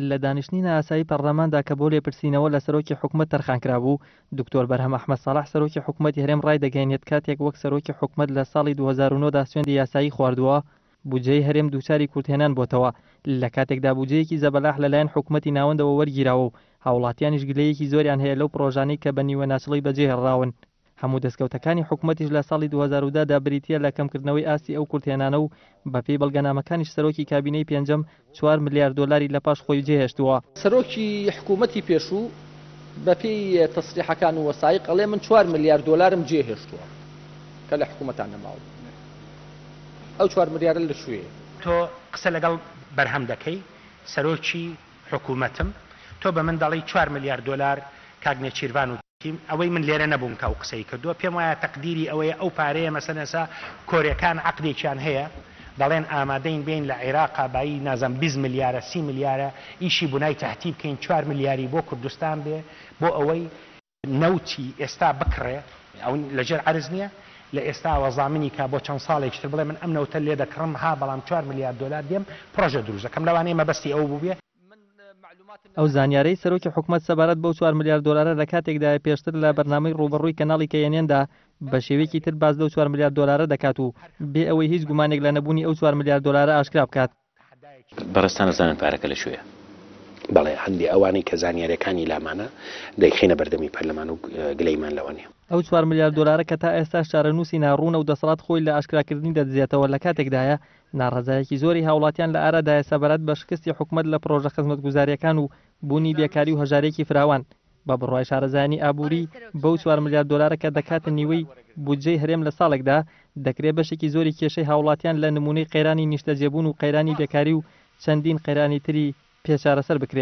لە دانیشتنی نائاسایی پەڕلەماندا کە بۆ لێپرسینەوە لە سەرۆکی حکومەت تەرخانکرابوو، دکتۆر بەرهەم ئەحمەد ساڵح سەرۆکی حکومەتی هەرێم ڕایدەگەیەنێت کاتێک وەک سەرۆکی حکومەت لە ساڵی دوو هەزار و نۆ دا سوێندی یاسایی خواردووە، بودجەی هەرێم دووچاری کورتهێنان بۆتەوە، لە کاتێکدا بودجەیەکی زەبەلاح لەلایەن حکومەتی ناوەندەوە وەرگیراوە و هاوڵاتیانیش گلەیەکی زۆریان هەیە لەو پڕۆژانەی کە بە نیوەناچڵی بەجێهێڵراون. هەموو دەستکەوتەکانی حکوومەتیش لە ساڵی 2010 دا بریتییە لە کەمکردنەوەی ئاستی ئەو کورتهێنانە و بەپێی بەڵگەنامەکانیش سەرۆکی کابینەی پێنجەم چوار ملیار دۆلاری لە پاش خۆی جێهێشتووە. سەرۆکی حکوومەتی پێشوو بەپێی تەسریحەکان و وەسایق ئەڵێ من چوار ملیار دۆلارم جێهێشتووە کە لە حکوومەتا نەماوم. ئەو چوار ملیارە لە کوێیە؟ تۆ قسە لەگەڵ بەرهەم دەکەی سەرۆکی. حکومەتم، تۆ بە من دەڵێی چوار ملیار دۆلار کاک نێچیرڤان و تیم، ئەوەی من لێرە نەبووم کە ئەو قسەی کردووە، پێم وایە تەقدیری ئەوەیە ئەو پارەیە مەسەن ئێستا کۆرێکان عەقدێکیان هەیە دەڵێن ئامادەین بێین لە عیراقا بایی نازام بیست ملیارە سی ملیارە ئیشی بنای تهتی بکەین چوار ملیاری بۆ کوردستان بێ بۆ ئەوەی نەوتی ئێستا بکڕێ ئەو لەژێر عەرز نیە؟ لە ئێستاوە زامنی کا بۆ چەند ساڵێکیش تر بڵێ من ئەم نەوتە لێ دەکڕم ها بەڵام چوار ملیار دۆلار دێم پڕۆژە دروست دەکەم لەوانەیە مەبەستی ئەو بووبێ. ئەو زانیارەی سەرۆکی حکومەت سەبارەت بەو چوار ملیار دۆلارە لە کاتێکدایە پێشتر لە بەرنامەی ڕووبەڕووی کەناڵی کە ئێن ئێندا بە شێوەیەکی تر باس لەو چوار ملیار دۆلارە دەکات و بێ ئەوەی هیچ گومانێک لە نەبوونی ئەو چوار ملیار دۆلارە ئاشکرا بکات. بەڕێزتان ئەزانن پارەکە لە کوێیە؟ بەڵێ هەندێ ئەوانەی کە زانیاریەکانی لامانە دەیخەینە بەردەمی پەرلەمان و گلەیمان لەوە نیە. ئەو چوار ملیار دۆلارە کە تا ئێستاش چارەنووسی ناڕوونە و دەسەڵات خۆی لە ئاشکراکردنی دەدزێتەوە لە کاتێکدایە ناڕەزایەکی زۆری هاوڵاتیان لە ئارادایە سەبارەت بە شکستی حکومەت لە پڕۆژە خزمەتگوزاریەکان و بوونی بێکاری و هەژاریی فراوان بە بڕوای شارەزایانی ئابووری، بەو چوار ملیار دۆلارە کە دەکاتە نیوەی بودجەی هەرێم لە ساڵێکدا، دەکرێ بەشێکی زۆری کێشەی هاوڵاتیان لە نموونەی قەیرانی نیشتەجێبوون و قەیرانی بێکاری و چەندین قەیرانی تری پێ چارەسەر بکرێ.